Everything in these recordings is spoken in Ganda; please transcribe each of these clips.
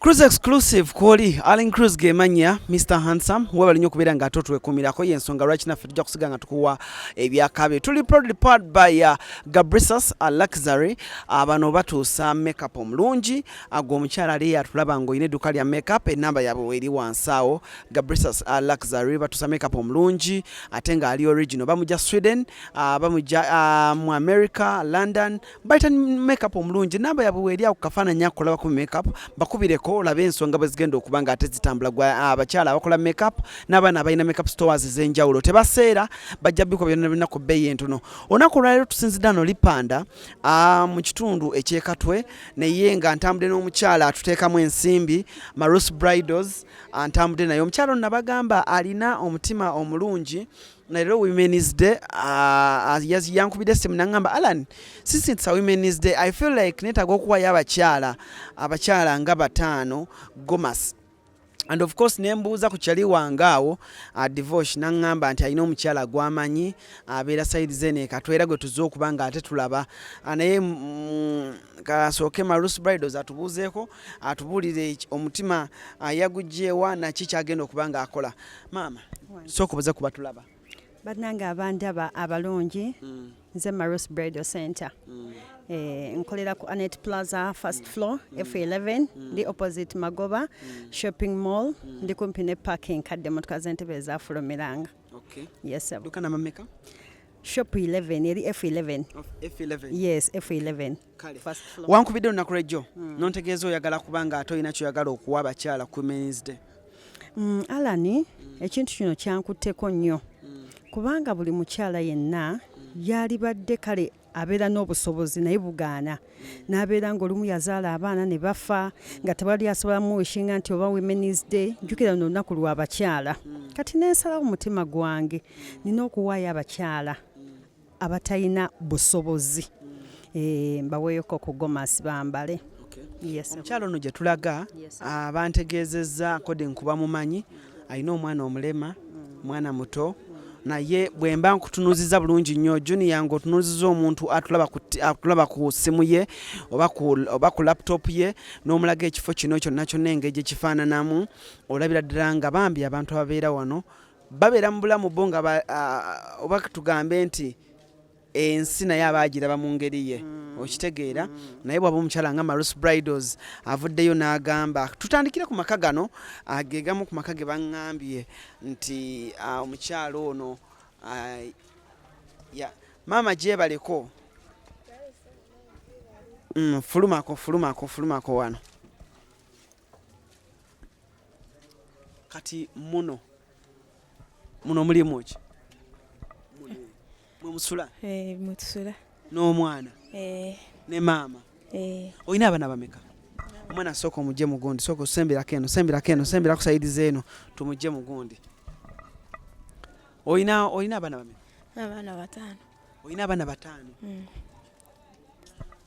Cruise exclusive kwoli Allen Cruise gemanya Mr Handsome webali nyo kubera nga atotwe kumira ko yensonga rachina fe tujja kusiga nga tukuwa ebyakabe tuli proudly part by uh, Gabrisus a luxury abano batusa makeup omulungi ago omukyala ali atulaba ngo ine dukali ya makeup enamba yabo weri wansao Gabrisus a luxury batusa makeup omulungi atenga ali original bamuja Sweden uh, bamuja uh, mu America London bayita makeup omulungi namba yabwe weeri awo kukafaananyi ako kulabako makeup bakubireko olabe ensonga bwe zigenda okuba nga ate zitambula gwa ah, abakyala abakola makeup n'abaana abalina makeup stores ez'enjawulo tebaseera bajja bikuba byonna byonna ku bbeeyi entono olunaku olwaleero tusinzidda no lipanda ah, mu kitundu ekyekatwe naye nga ntambudde n'omukyala atuteekamu ensimbi marus bridals ah, ntambudde naye omukyala ono nabagamba alina omutima omulungi naero women's day uh, yankubidde simu nangamba alan sisintisa women's day i feel like netaga okuwayo abakyala abakyala nga bataano gomas and of course nembuuza ku kyali wange awo uh, devosh naŋŋamba nti alina omukyala gwamanyi abeera saidi zene katwera gwe tuzze okuba nga ate tulaba uh, naye mm, kasooke marus bridos atubuuzeeko atubuulire omutima uh, yagugyewa naki kyagenda okuba nga akola maama sooka obaze ku batulaba bannange abandaba abalungi mm. nze maros bridal center mm. eh, nkolera ku anet plaza first floor mm. f11 ndi opposite magoba shopping mall ndi kumpi ne parking kadde motoka zentebe ezafulumiranga yes shop 11 eri f11 yes f11 wankubidde olunaku lwejjo hmm. nontegeeza oyagala kubanga ate olina kyoyagala okuwa abakyala kuminsde hmm, alani hmm. ekintu kino kyankutteko nnyo kubanga buli mukyala yenna yalibadde kale abeera n'obusobozi naye bugaana n'abeera ng'olumu yazaala abaana ne bafa nga tewali asobola muwishinga nti oba women's day njukira no lunaku lwa bakyala kati nensalawo mutima gwange nina okuwaayo abakyala abatalina busobozi eh, mbaweeyoko ku gomasi bambale omukyalo ono gye tulaga abantegeezezza kode nkuba mumanyi alina omwana omulema mwana muto naye bwe mba nkutunuziza bulungi nnyo junia nga otunuziza omuntu atulaba ku ssimu ye oba ku laptop ye n'omulaga ekifo kino kyonna kyonna engeri gye kifaananamu olabira ddala nga bambi abantu ababeera wano babeera mu bulamu bo nga oba tugambe nti ensi naye aba agiraba mu ngeri ye mm. okitegeera mm. naye bwaba omukyala nga marus bridals avuddeyo n'agamba tutandikire ku maka gano agegamu ku maka ge baŋŋambye nti omukyala ono maama gyebaleko mm, fulumako fulumako fulumako wano kati muno muno mulimu ki mwemusula eh, mwetusula n'omwana eh. ne maama eh. olina abaana bameka omwana sooka omugye mugundi sooka osembirako eno sembirako eno sembira kusaidiza eno tumugye mugundi olina olina abaana bameka abaana bataano olina abaana bataano mm.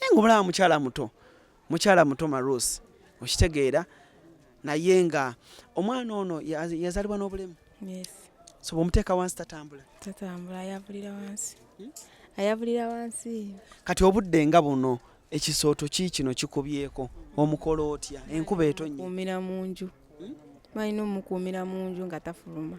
naye nga omulaba mukyala muto mukyala muto marusi okitegeera naye nga omwana ono yazalibwa n'obulemu so bwomuteeka wansi tatambula tatambula ayavulira wansi hmm? ayavulira wansi kati obudde nga buno ekisooto ki kino kikubyeko omukola otya enkuba etonnyemumira mu nju hmm? balina omukuumira mu nju nga tafuluma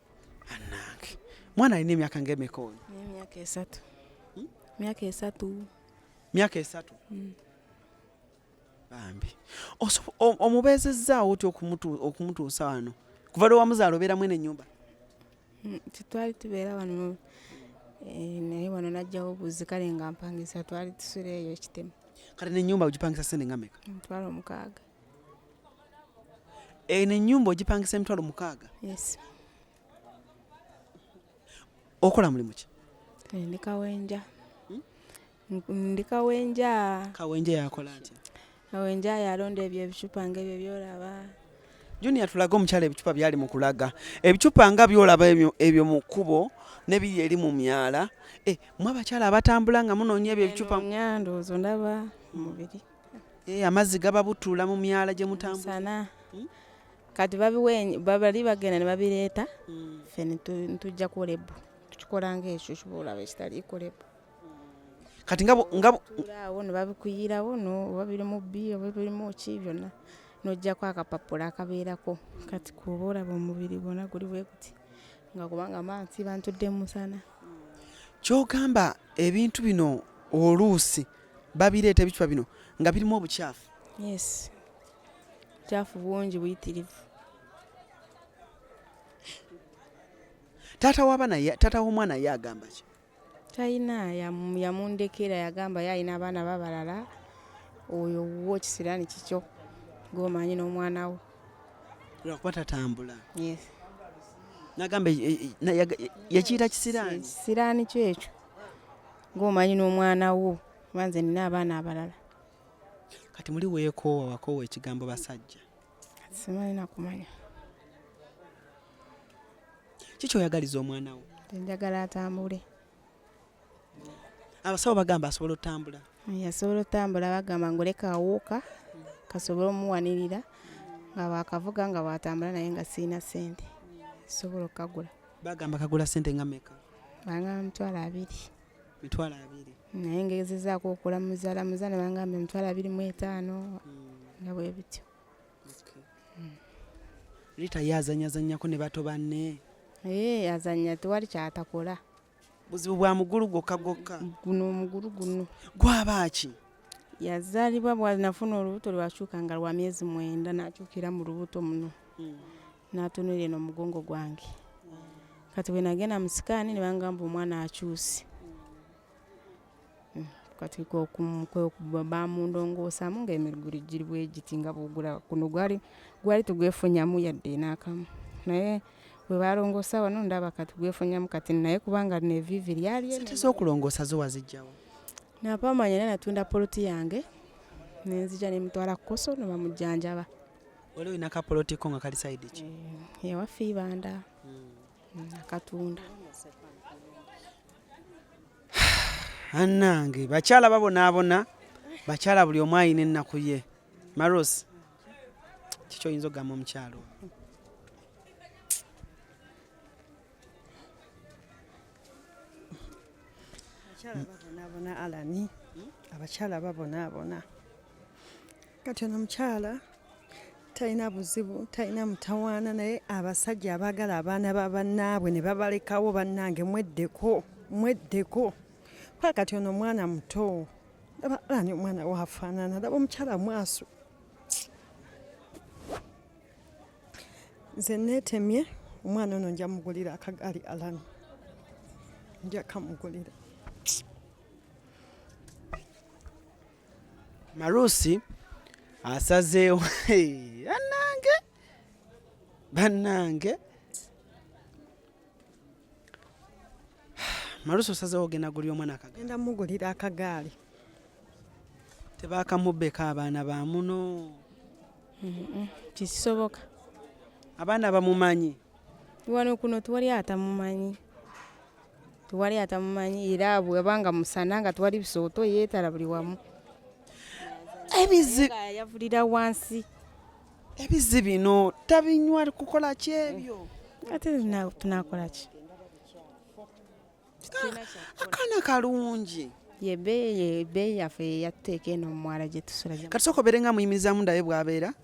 anange mwana alina emyaka ngaemeka oyo myaka esatu hmm? myaka esatu myaka esatu hmm. bambi omubeezezzaawo otya okumutuusa wano kuva lwe wamuzaala obeera mwene enyumba hmm, tetwali tubeera wano eh, naye wano najjawo obuzi kale nga mpangisa twali tusula eyo ekitemu kale nenyumba ugipangisa sente nga meka mutwalo mukaaga eno enyumba ogipangisa emitwalo mukaaga okola mulimu ki eh, ndi kawenja hmm? ndi kawenja kawenja yakola atya kawenja yalonda ebyo ebicupa nga ebyo byolaba junior tulaga omukyala ebicupa byali mu kulaga ebicupa nga byolaba ebyo mu kkubo nebiri eri mu myala eh, mwe abakyala abatambula nga munoonya ebyo ebicupa ndowooza ndaba mubiri Eh, amazzi gaba butula mu myala gye mutambusana hmm? kati babali bagenda ne babireeta hmm. fe ntujja kulebu tukikola ngaekyo kibaolaba ekitali kulebu kati ngaawo nebabikuyirawo oba biri mu bi oba birimu ki byonna nojjako akapapula akabeerako kati kuba olaba omubiri gwona guli bweguti nga kubanga mansi bantudde musana kyogamba ebintu bino oluusi babireeta ebicupa bino nga birimu obukyafu yes bukyafu bungi buyitirivu taata wabana taata w'omwana ye agamba ki talina yamundekera yagamba ye alina abaana babalala oyo wuwo kisiraani kikyo gomanyi n'omwana wo lwakuba tatambula yes nagamba e, e, e, yakiyita kisiraani kisiraani kyo ekyo ng'omanyi n'omwana wo kuba nze nina abaana abalala kati muli weekoowa wakoowa ekigambo basajja simanyi nakumanya kiki oyagaliza omwana wo enjagala atambule abasawo bagamba asobola otambula yasobola otambula bagamba ngoleka awuuka kasobola omuwanirira nga bakavuga nga bwatambula naye nga siina sente sobola okukagula bagamba kagula sente nga meka bangamba mitwalo abiri mitwalo abiri naye ngezezaako okula muzala muza ne bangamba emitwalo abiri mu etaano hmm. nga bwe bityo hmm. lita ye azanyazanyako ne bato banne ee eh, azanya tewali kyatakola buzibu bwa mugulu gwokka gwokka guno omugulu guno gwaba ki yazaalibwa bwanafuna olubuto lwakyuka nga lwa myezi mwenda nakyukira mu lubuto muno hmm. natunulira no mugongo gwange kati bwe nagenda mu sikaani ne bangamba omwana akyuse hmm, kati bamundongoosamu ng'emiguli giri bwe giti nga bwogula kuno gwali gwali tugwefunyamu yadde n'akamu naye bwe balongoosa wano ndaba kati gwefunyamu kati naye kubanga lino eviivi lyali sente z'okulongoosa zo wazijjawo napaamanya naye natunda poloti yange nenzija nemutwala kukoso nebamujjanjaba wali olina kapoloti ko nga kali saidi ki eh, ewaffe ibanda hmm. akatunda anange bakyala babonaabona bakyala buli omu ayina ennaku ye maros kikyo oyinza okugamba omukyalo abakyala babonaabona alani abakyala babonaabona kati ono mukyala talina buzibu talina mutawaana naye abasajja abaagala abaana ba bannaabwe ne babalekawo bannange mweddeko mweddeko kuba kati ono omwana muto laba ani omwana waafaanana laba omukyala mwaso nze neetemye omwana ono nja mugulira akagaali alani nja kamugulira Marusi asazeewo banange banange Marusi osazeewo ogenda guli omwana akagaali genda mugulira akagaali tebakamubbeko abaana ba muno kisoboka abaana bamumanyi wano kuno tewali atamumanyi tewali atamumanyi era bwebanga musana nga tewali bisooto yeetala buli wamu ebizi yavulira wansi ebizi bino tabinywa kukola ki ebyo ate tunakola ki akaana kalungi yebeeyi yaffe yatteeka eno mumwala gyetusula kati soka obeere nga muyimirizamu ndabe bwabeera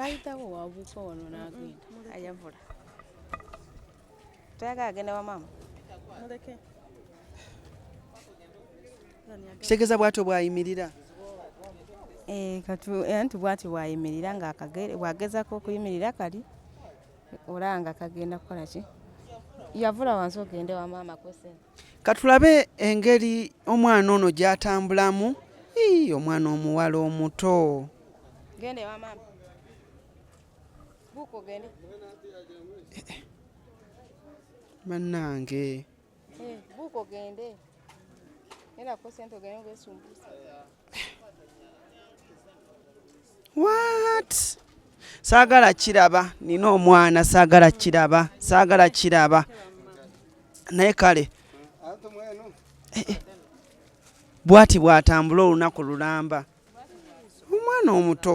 ayitawo wabuuka wano n'agenda ayavula toyagala agenda wa maama kitegeeza bwatyo bwayimirira eh, eh, anti bwatyo bwayimirira nga bwagezako okuyimirira kali olaba nga kagenda kukola ki yavula wansi ogende wa maama kwesente katulabe engeri omwana ono gyatambulamu omwana omuwala omuto Gende wa mama. Buko gende. Manange. Eh, buko gende. Ela ko sento gende ngesumbusa. What? Sagala kiraba nina omwana sagala kiraba sagala kiraba naye kale eh, eh. bwati bwatambula olunaku lulamba omwana omuto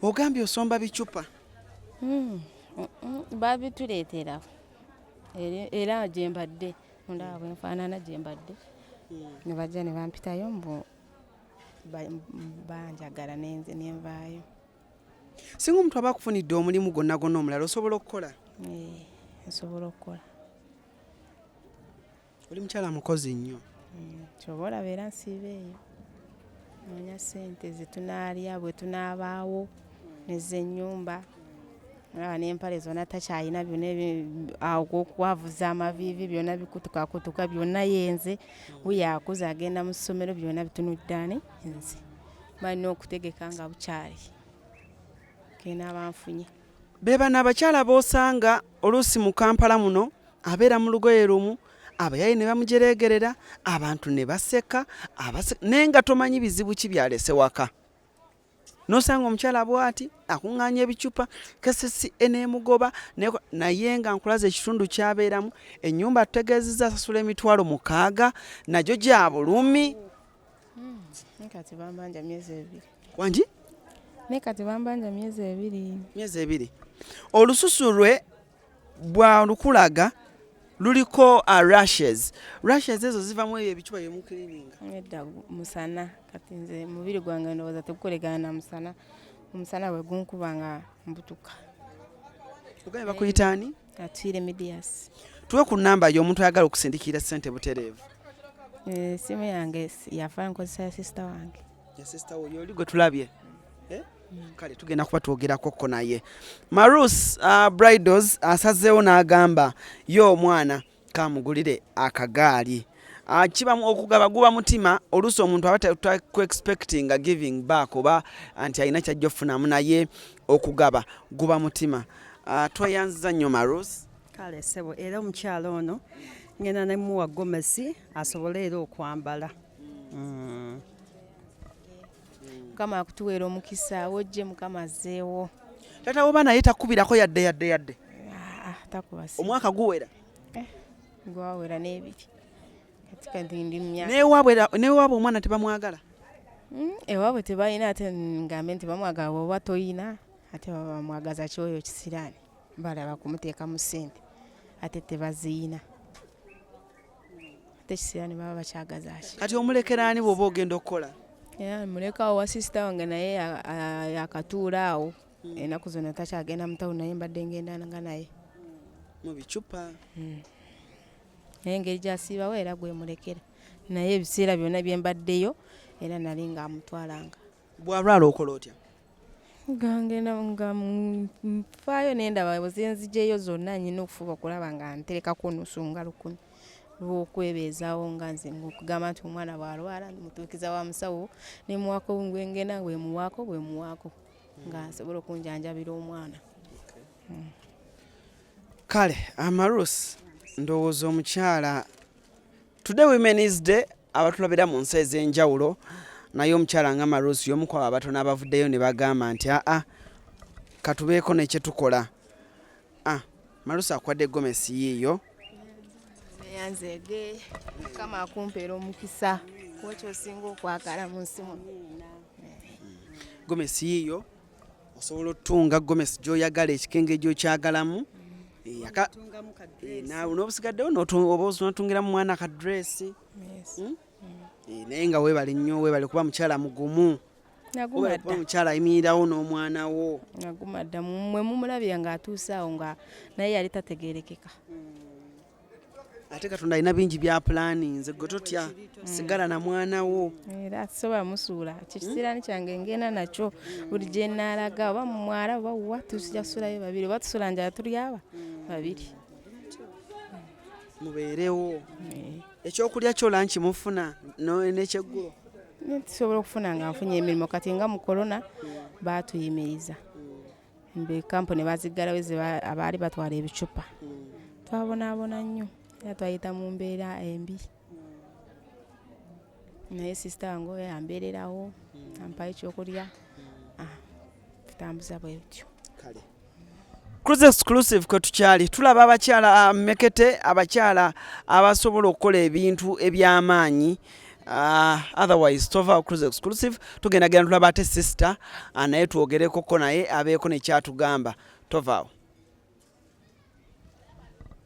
ogambye osomba bicupa hmm, mm, mm, babituleetera era gyembadde ndaba bwenfaanana gyembadde hmm. nebajja nebampitayo mbu banjagala nenze nenvaayo singa omuntu aba akufunidde omulimu gwonna gwonna omulala osobola okukola eh, nsobola okukola oli mukyala mukozi nnyo mm, kyoba olaba era nsiiba eyo noonya sente zetunaalya bwe tunaabaawo nezenyumba olaba n'empale zona takyalina byona okwavuza amaviivi byona bikutukakutuka byona yenze wuyakuza agenda mu ssomero byona bitunuddaani nze balina okutegeka nga bukyali kena banfunye bebano abakyala bosanga oluusi mu kampala muno abeera mu lugoye lumu abayaye ne bamujereegerera abantu ne baseka naye nga tomanyi bizibu ki byalese waka nosanga omukyala bwati akunganya ebicupa kesesi enemugoba naye nga nkulaza ekitundu kyabeeramu enyumba tutegeezeza asasula emitwalo mukaaga nagyo gya bulumi wangi naye kati bambanja myezi ebiri myezi ebiri olususu lwe bwa lukulaga luliko uh, rashes rashes ezo ziva mu eyo ebicuba bye mukirininga edda musana kati nze mubiri gwange ndowooza tegukolekana na musana omusana bwe gunkuba nga mbutuka ogaye bakuyita ani atwire medias tuwe ku namba yo omuntu ayagala okusindikira sente butereevu esimu eh, yange yafa nkozesa ya sisita wange sister wo yoli gwe tulabye eh? mm. kale tugenda kuba twogerako ko naye marus uh, bridals asazeewo n'agamba ye omwana kamugulire akagaali uh, kibamu okugaba guba mutima oluusi omuntu aba takuexpectinga giving back oba nti alina kyajja okufunamu naye okugaba guba mutima uh, tweyanziza nnyo marus kale sebo era omukyalo ono ngenda nemuwa gomesi asobole era okwambala mm. mukama akutuweera omukisa wojje mukama azzeewo taata woba naye takubirako yadde yadde yadde ah, ah, omwaka guwera eh, gwawera n'ebiri newaabwe omwana tebamwagala hmm, ewaabwe tebalina ate ngambe nti bamwagala bwoba toyina ate baba bamwagaza kyoyo kisiraani balaba kumuteekamu ssente ate tebaziyina tekisira ne baba bakyagaza ki kati omulekera ani bwoba ogenda okukola mulekawo wa sisita wange naye yakatuula awo hmm. enaku zona takyagenda mutawo naye mbadde ngendanga naye mu bicupa hmm. naye engeri gyasiibawo era gwemulekera naye ebiseera byonna byembaddeyo era nali nga amutwalanga bwalwala okola otya gangenda nga nfaayo nendaba zenzijeyo zonna nyina okufuba okulaba nga nterekako onusunga lukumi lwokwebeezawo nga nze okugamba nti omwana bwalwala mutuukiza wa musawo nemuwako ngwengenda bwemuwaako bwemuwaako nga nsobola okunjanjabira omwana hmm. kale amarus ndowooza omukyala Today Women's Day abatulabira mu nsi ez'enjawulo naye omukyala nga Marusi y'omu kwabo abatono abavuddeyo ne bagamba nti aa katubeeko ne kye tukola ah, Marusi akwadde gomesi yiiyo yanzege kama akumpeera omukisa kuba kyosinga okwagala mu nsi muno gomesi yiiyo osobola otunga gomesi gyoyagala ekikenge gyokyagalamu eh, eh, nobusigaddewo oba onatungira mu mwana akadresi hmm? mm. eh, naye nga webale nnyo webale kuba mukyala mugumu kuba mukyala ayimirirawo n'omwana wo naguma dda mwe mumulabira ng'atuuse awo nga naye yali tategerekeka hmm. ate katonda alina bingi bya pulaani nze gwe totya mm. sigala na mwana wo era eh, soba musuula kikisiraani kyange ngenda nakyo buli gye naalaga oba mu mwala oba wa tujja kusulayo babiri oba tusula njala tuli aba babiri mubeerewo eh. ekyokulya kyo lanki mufuna nekyeggulo tusobola okufuna nga nfunye emirimu kati nga mu korona baatuyimiriza mbe kampuni baziggalawo ze abaali batwala ebicupa twabonaabona nnyo era twayita mu mbeera embi naye sisita wange oyo ambeererawo ampayo ekyokulya ah, tutambuza bwe bityo kale Cruise exclusive kwe tukyali tulaba abakyala ah, mekete abakyala abasobola okukola ebintu eby'amaanyi Uh, otherwise tova cruise exclusive tugenda genda tulaba ate sister uh, naye twogerekoko naye abeeko nekyatugamba tovaawo